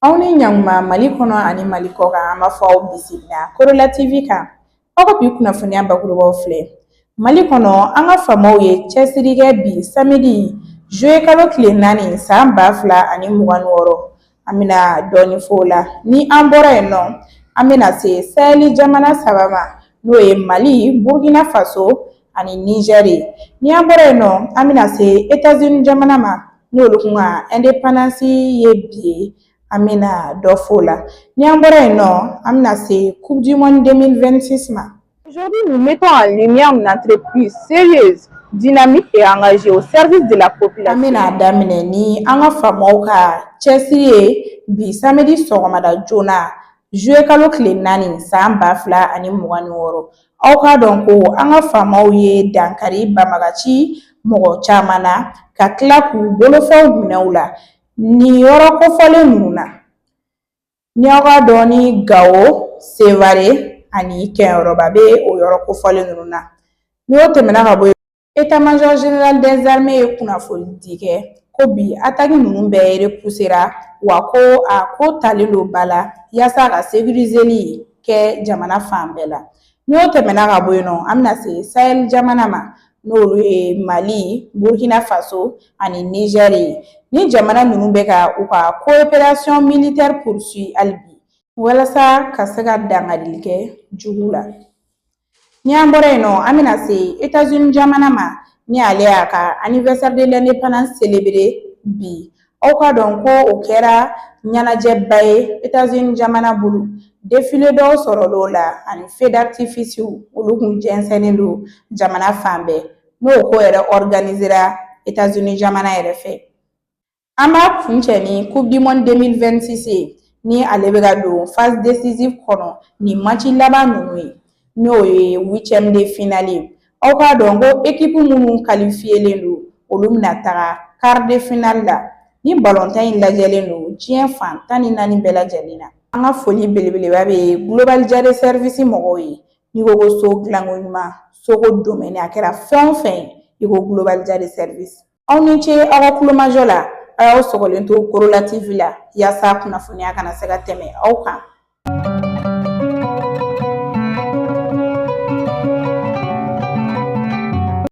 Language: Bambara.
aw ni ɲankuma mali kɔnɔ ani mali kɔkan an b'a fɔ aw bisimila korola tv kan aw ka bi kunnafoniya bakurubaw filɛ mali kɔnɔ an ka faamaw ye cɛsiri kɛ bi samedi juillet kalo tile naani san ba fila ani mugan ni wɔɔrɔ an bɛna dɔɔnin f'o la ni an bɔra yen nɔ an bɛna se sahɛli jamana saba ma n'o ye mali burukina faso ani nizɛri ni an bɔra yen nɔ an bɛna se etazini jamana ma n'olu kun ka ɛndepandansi ye bi ye an bɛna dɔ f'o la ni an bɔra yen nɔ an bɛna se coupe du monde 2026 ma Aujourd'hui, nous mettons en lumière une entreprise sérieuse, dynamique et engagée au service de la population. An bɛna a daminɛ ni an ka faamaw ka cɛsiri ye bi samedi sɔgɔmada joona juillet kalo tile naani san ba fila ani mugan ni wɔɔrɔ aw k'a dɔn ko an ka faamaw ye dankari banbagaci mɔgɔ caman na ka tila k'u bolofɛnw minɛ u la nin yɔrɔ kofɔlen ninnu na Ni aw k'a dɔn ni Gawo, Sevare ani Kɛɲɛrɔba bɛ o yɔrɔ kofɔlen ninnu na ni o tɛmɛna ka bɔ yen Etat major général des armées ye kunnafoni di kɛ ko bi ataki ninnu bɛɛ repusera wa ko a ko talen don ba la yaasa ka sekirizeli kɛ jamana fan bɛɛ la N'o tɛmɛna ka bɔ yen nɔ an bɛna se sahɛli jamana ma n'olu ye mali burukina faso ani nizɛri ni jamana ninnu bɛ ka u ka koperasɔn militɛri poursuivi hali bi walasa ka se ka dankarili kɛ jugu la ni an bɔra yen nɔ an bɛna se etazini jamana ma ni ale y'a ka anniversaire de l'indépendance selebere bi Aw k'a dɔn ko o kɛra ɲɛnajɛba ye etazini jamana bolo defile dɔw sɔrɔla o la ani feu d'artificew olu kun jɛnsɛnnen don jamana fan bɛɛ n'o ko yɛrɛ ɔriganizera etazini jamana yɛrɛ fɛ an b'a kuncɛ ni coupe du monde 2026 ni ale bɛ ka don phase décisive kɔnɔ ni match laban ninnu ye n'o ye huitième de finale ye aw k'a dɔn ko ekipu minnu kalifiyelen don olu bɛna taga quart de finale la ni balontan in lajɛlen don diɲɛ fan tan ni naani bɛɛ lajɛlen na an ka foli belebeleba bɛ global jare sɛrivisi mɔgɔw ye n'i ko ko so dilanko ɲuman soko domɛni a kɛra fɛn o fɛn ye i ko global jare sɛrivisi Aw ni ce aw ka kulomajɔ la a y'aw sɔgɔlen to korola tv la yaasa kunnafoniya kana se ka tɛmɛ aw kan